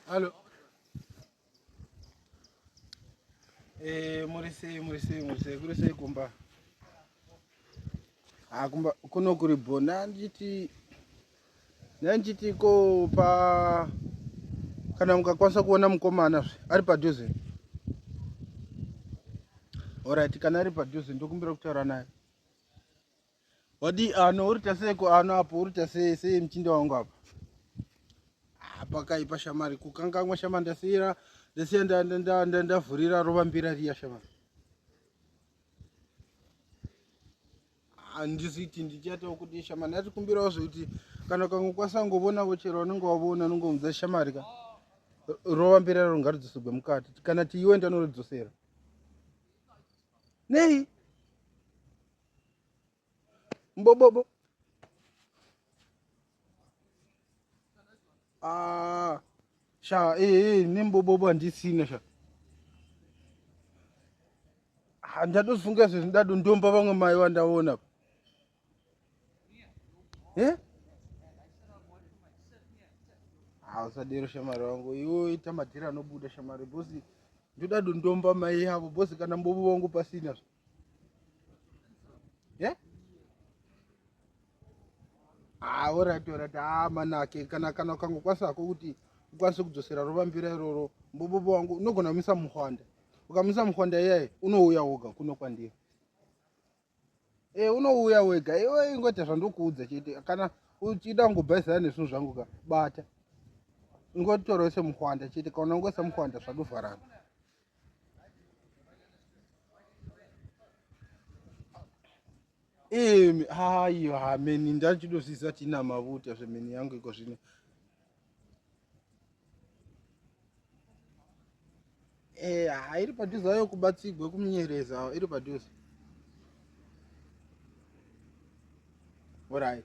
Hello. Eh, muri sei muri sei muri sei kuri sei kumba? Ah, kumba kuno kuri bona nditi nditi ko pa kana mukakwanisa kuona mukomana zve ari padhuze. Alright, kana ari padhuze ndokumbira kutaura naye. Wadi ano uri tasei ko ano apo uri tasei sei muchinda wangu apa. Ah, pakaipa shamari kukangamwa shamari ndasiira ndasiya ndavhurira rova mbira riya shamari. handiziti ndichatawo kuti shamari ndatikumbirawo zvekuti kana kangu kwasangovonavo chero vanenge wavona anongomudza shamari ka rova mberi raro ngaridzosegwe mukati kana tiiwe ndanoridzosera nei mbobobo ah sha eh eh nembobobo andisina sha handadofunga ah, zvezvi ndado ndomba vamwe mai vandaona eh hausadero shamari wangu iwo ita madhiri anobuda shamari bosi ndodado ndomba mai yavo bosi kana mbobo vangu pasina zva ye yeah? ah, orit orit ah, manake kana kana ukangokwanisa hako kuti ukwanise kudzosera rovambira iroro mbobobo wangu unogona kumisa muhwanda ukamisa muhwanda iyaye unouya woga kuno kwandiri e eh, unouya wega iwe ingoita zvandokuudza chete kana uchida kungobhaizana nezvinhu zvangu ka bata ingotorese muhwanda chete kana ungoisa muhwanda zvatovharana imi hayo hameni ndachidosiisa tina mavuta zvemeni yangu iko zvino eh, ha iri padhuze ayo kubatsigwe kumunyereza iri padhuze orit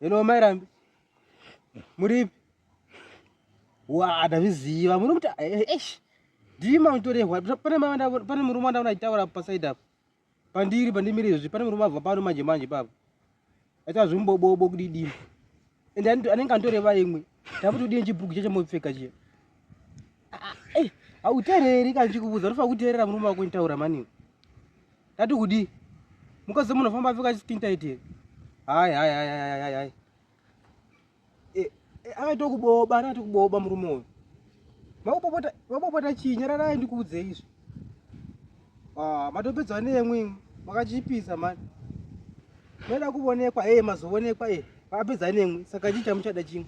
Hello mai Rambi. Muripi? Wa adazviziva. Muri kuti eish. Ndimi mamutorehwa. Pane mawanda pane murume wanda unaitaura pa side up. Pandiri pandimire izvi pane murume abva pano manje manje baba. Aita zvimbobobo kudidini. Ende anenge antoreva imwe. Takuti udini chibhuku chacho mopfeka chiya. Ah, eh, hautereri kana chikubuza unofa kuterera murume wako nitaura mani. Tati kudii? Mukadzi munofamba apfeka chitintaiti here? Hayi, hayi, hayi, hayi, hayi, hayi. Eh, eh, akaita kuboba, akaita kuboba murume uyu. Makupopota, makupopota chii? Nyararai ndikuudze izvi. Ah, matopedzwa nemwi, makachipisa mani. Meda kuvonekwa, eh, mazoonekwa, eh. Apedza nemwi, saka chii chamuchada chimwe?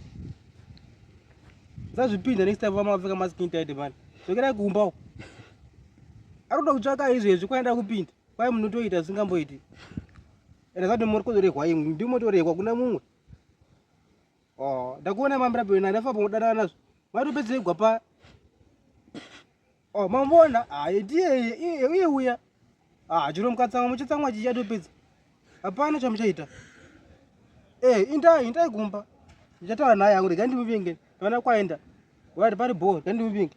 Zazvipinda next time vamapfeka maskintaiti mani. Zvokerai kumba uko. arikuda kutsvaka izvezvi kwaenda kupinda kwai munotoita zvisingamboiti ende zati murikutorehwa imwe ndimotorehwa kuna mumwe oh, ndakuona mamirapi wena ndafamba kudanana nazvo maitopedzegwa pa oh, mamboona aye ah, ndiye iye uya ah, chiro mukatsamwa muchitsamwa chichi atopedza Hapana chamuchaita. Eh, indai, indai kumba. Ndichataura naye hangu regai ndimuvinge. Kana kwaenda. Wari pari bhoo, regai ndimuvinge.